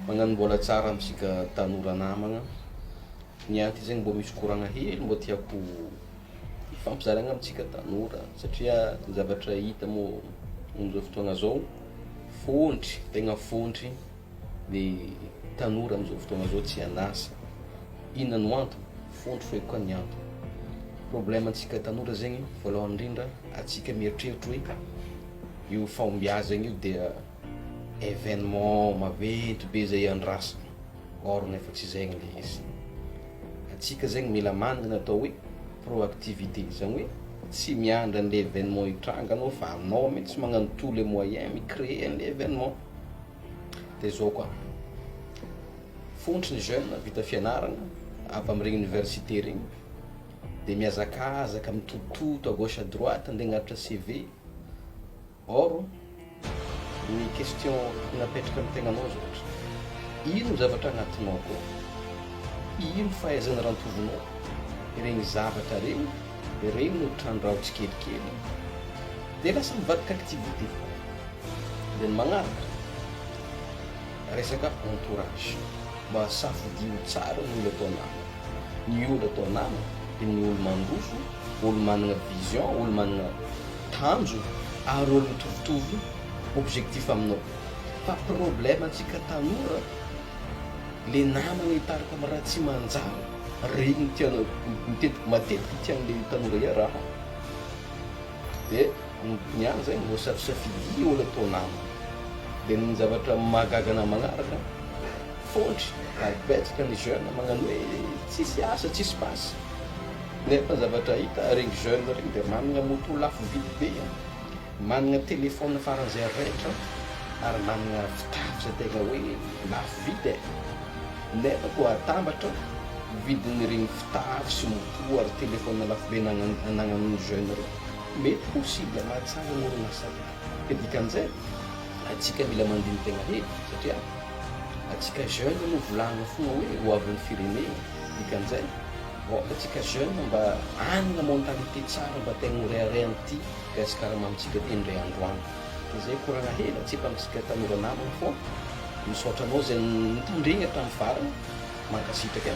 Magnano mbola tsara amintsika tanora namagna, ny ahy ty zegny mbô misy koragna hely mbô tiako hifampizaragna amintsika tanora satria ny zavatra hita mo amin'izao fotoagna zao fôntry tegna fôntry ny tanora amin'izao fotoagna zao tsy an'asa, inona no antony? Fôntry feky koa ny antony, problème antsika tanora zegny voalohany indrindra antsika mieritreritra hoe Io fahombiazagna io dia événement maventy be zay andrasana or nefa tsy zegny le izy. Antsika zegny mila managna atao hoe proactivité, zany hoe tsy miandry an'le événement hitranga anao fa anao mintsy magnano tout le moyen mi-créer an'le événement. De zao koa, fontry ny jeune vita fianaragna avy amregny université regny de mihazakazaka mitototo à gauche à droite ande agnaritra CV, Or, ny question napetraka ny tegnanao zao ohatra, ino ny zavatra agnatinao akao, ino fahaizana rantovonao, iregny zavatra regny, regny no trandraho tsikelikely, dia lasa mivadika activité foana. Dia ny magnaraka, resaka entourage. Mahasafidio tsara ny olo atao namana. Ny olo atao namana dia ny olo mandroso, olo manana vision, olo manana tanjo ary olo mitovitovy objectif aminao. Fa problème antsika tanora, le namana hitarika amin'ny raha tsy manjary, reny no tianao, matetiky no tian'le tanora iaraha. Dia ny ny an zay no voasafisafidia olo atao namana. Dia ny zavatra mahagaga na magnaraka, fôntry ary betsaka ny jeune magnano hoe tsisy asa, tsisy basy. Nefa ny zavatra hita, regny jeune regny dia managna moto lafo vidy be an, managna telephone faran'izay rehetra an, ary managna fitaratra tegna hoe lafo vidy e. Nefa koa atambatra vidin'iregny fitafy sy moto. Ho ary téléphone lafo be anagnan'ny jeune reo mety ho cible mahatsara ny orinasa reo ka dikan'izay atsika mila mandiny tegna hely satria atsika jeune no volagna fogna hoe ho avin'ny firenena dikan'izay aoka atsika jeune mba hanagna mentalité tsara mba tegna ho rehareha amty Gasikara mamintsika ty ndray andro any de zay koragna hely atsipy amintsika tanora namagna fô misaotra anao zay nitandregna hatramin'ny farany mankasitraka e.